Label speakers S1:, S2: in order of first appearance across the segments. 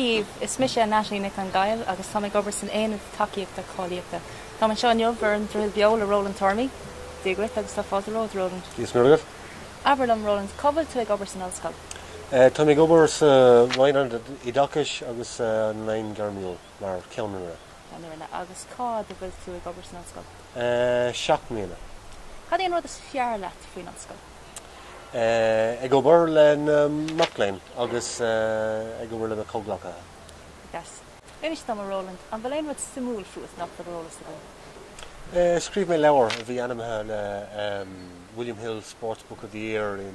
S1: Dia daoibh, is mise Natalie Nic an Ghaill agus táim ag obair san Aonad Tacaíochta Cáilíochta. Táim anseo inniu ar an Droichead Beo le Roland Tormey. Dia dhuit agus tá fáilte romhat, Roland. Dia is Muire dhuit.
S2: Abair liom, Roland,
S1: cá bhfuil tú ag obair san ollscoil? Táim ag
S2: obair sa Roinn Oideachais agus Léinn Ghairmiúil mar cheannaire.
S1: Agus cá fhad a bhfuil tú ag obair san ollscoil? Seacht mbliana.
S2: Cad é an rud is
S1: fearr leat faoin ollscoil?
S2: Ag obair le na mac léinn agus ag obair le na comhghleacaithe.
S1: Yes. Inis dom, a Roland, an bhfuil aon rud suimiúil fút nach bhfuil ar eolas againn? Scríobh
S2: mé leabhar a bhí ainmnithe le. William Hill Sports Book of the Year i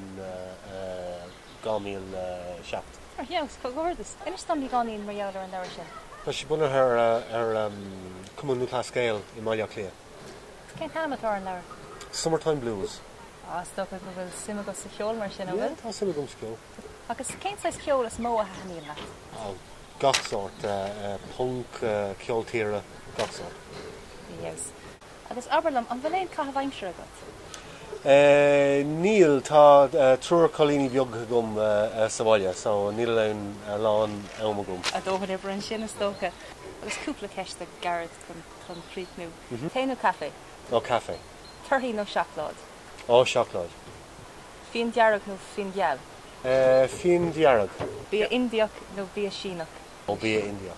S2: 2007. Ar fheabhas!
S1: Comhghairdeas! Inis dom, beagáinín, mar gheall ar an leabhar sin. Tá sé bunaithe
S2: ar Cumann Lúthchleas Gael i mBaile Átha Cliath. Cén t-ainm
S1: atá ar an leabhar? Summertime
S2: Blues. Á, is dócha
S1: go bhfuil suim agat sa cheol, mar sin, an bhfuil? Yeah, tá suim agam sa
S2: cheol. Agus cén
S1: saghas ceol is mó a thaitníonn leat? Á, gach sórt.
S2: Punk, ceol tíre, gach sórt. Ar fheabhas.
S1: Agus abair liom, an bhfuil aon caitheamh aimsire agat?
S2: Níl, tá triúr cailíní beaga agam sa bhaile, so níl aon a lán am agam. Do dhóthain oibre ansin,
S1: is dócha. Agus cúpla ceist ghairid chun críochnú. Tae nó caife? Ó,
S2: caife. Torthaí
S1: nó seacláid? Ó,
S2: seacláid. Fíon
S1: dearg nó fíon geal? Fíon
S2: dearg. Bia Indiach
S1: nó bia Síneach? Ó, bia Indiach.